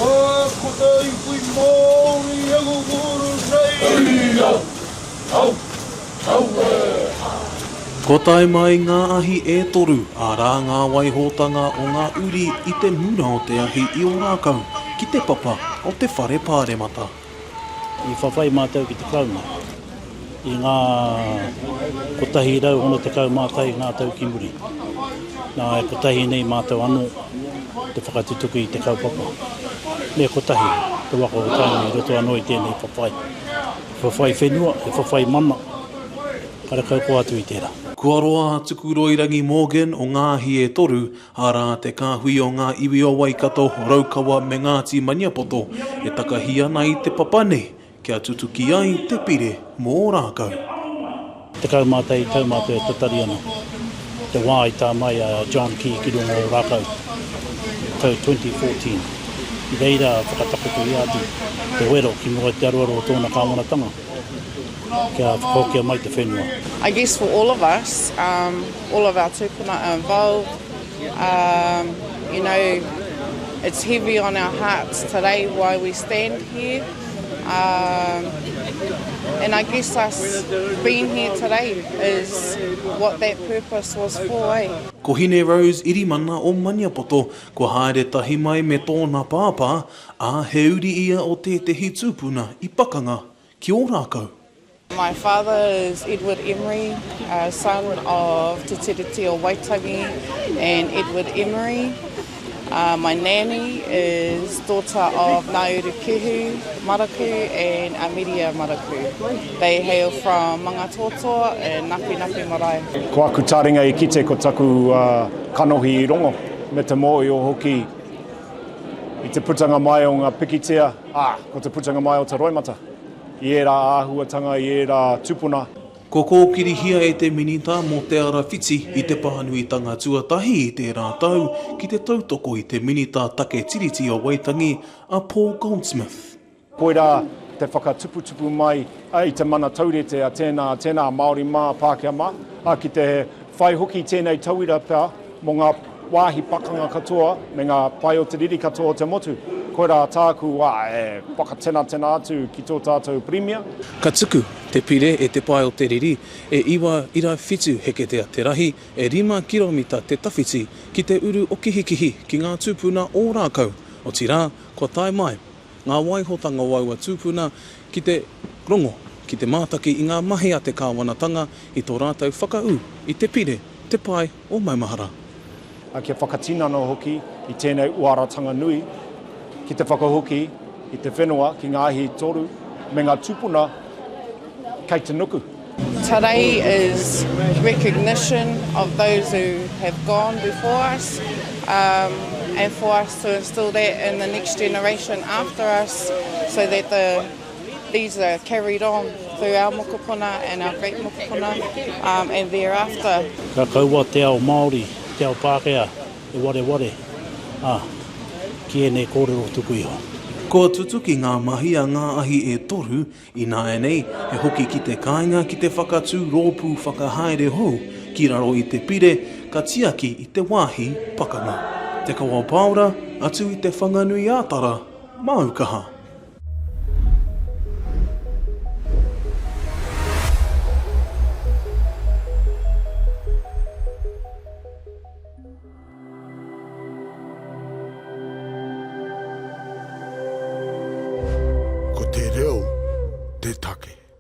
Mā ko tā iwi Māori angunguuru nei. Hei au! Au! Au e ha! Kua tae mai ngā ahi e toru, arā ngā waihotanga o ngā uri i te mura o te ahi i Ōrākau ki te papa o te Whare Pāremata. I whawhai mātou ki te Karauna i ngā 160 mātai ngā tau ki muri. Nā, e kotahi nei mātou anō te whakatutuki i te kaupapa. Me kotahi te waka o Tainui i roto anō i tēnei whawhai. He whawhai whenua, he whawhai mana, karekau koa atu i tērā. Kua roa a Tuku Roirangi Morgan o Ngāhi e Toru, Arā, te kāhui o ngā iwi o Waikato, Raukawa me Ngāti Maniapoto e takahi ana i te papa nei kia tutuki ai te pire mō Ōrākau. Tekau mā te tau mā te tatari ana te wā i tā mai a John Key ki runga o Ōrākau i te tau 2014. I reira whakatakotoria atu te wero ki mua i te aroaro o tōna kāwanatanga. kia whakahokia mai te whenua. I guess for all of us, um, all of our tūpuna are involved, um, you know, it's heavy on our hearts today why we stand here. Um, and I guess us being here today is what that purpose was for, eh? Ko Hine Rose Irimana o Maniapoto, kua haere tahi mai me tōna pāpā, Ā, he uri ia o tētehi tūpuna i pakanga ki Ōrākau. My father is Edward Emery, a son of Te Tiriti o Waitangi and Edward Emery. My nanny is daughter of Nauru Kehu Maraku and Ameria Maraku. They hail from Mangatōtō in Napiinapi Marae. Ko aku taringa i kite ko taku kanohi i rongo, me te mōio hoki. I te putanga mai o ngā pikitia, ā, ko te putanga mai o te roimata i ērā āhuatanga, i ērā tupuna. Kua kōkirihia e te Minita mō Te Ara Whiti i te pānuitanga tuatahi i tērā tau ki te tautoko i te Minita Take Tiriti o Waitangi, a Paul Goldsmith. Koirā te whakatuputupu mai i te mana taurite a tēnā, tēnā Māori mā, Pākehā mā, ā, ki te whai hoki tēnei tauira pea mō ngā wāhi pakanga katoa me ngā pae o te riri katoa o te motu. Koirā tāku wā e whakatenatena atu ki tō tātou Pirimia. Ka tuku te pire e te pae o te riri, e 9.7 heketea te rahi, e 5 kiromita te tawhiti ki te uru o Kihikihi ki ngā tūpuna Ōrākau, otirā, kua tae mai. ngā waihotanga o aua tūpuna ki te rongo, ki te mātaki i ngā mahi a te kāwanatanga i tō rātou whakaū i te pire, te pae o maumahara. Ā, kia whakatinana hoki i tēnei uaratanga nui ki te whakahoki i te whenua ki ngā hītoru me ngā tūpuna kei te nuku. Tarei is recognition of those who have gone before us and for us to instill that in the next generation after us so that these are carried on through our mokopuna and our great mokopuna and thereafter. Ka kaua te ao Māori, te ao Pākehā e wareware ki ēnei kōrero tuku iho. Kua tutuki ngā mahi a ngā ahi e toru, Ināianei, he hoki ki te kāinga ki te whakatū rōpū whakahaere hou ki raro i te pire ka tiaki i te wāhi pakanga. Te Kawa Pāora, atu i Te Whanganui-ā-Tara, māu kaha. Ko te reo te take.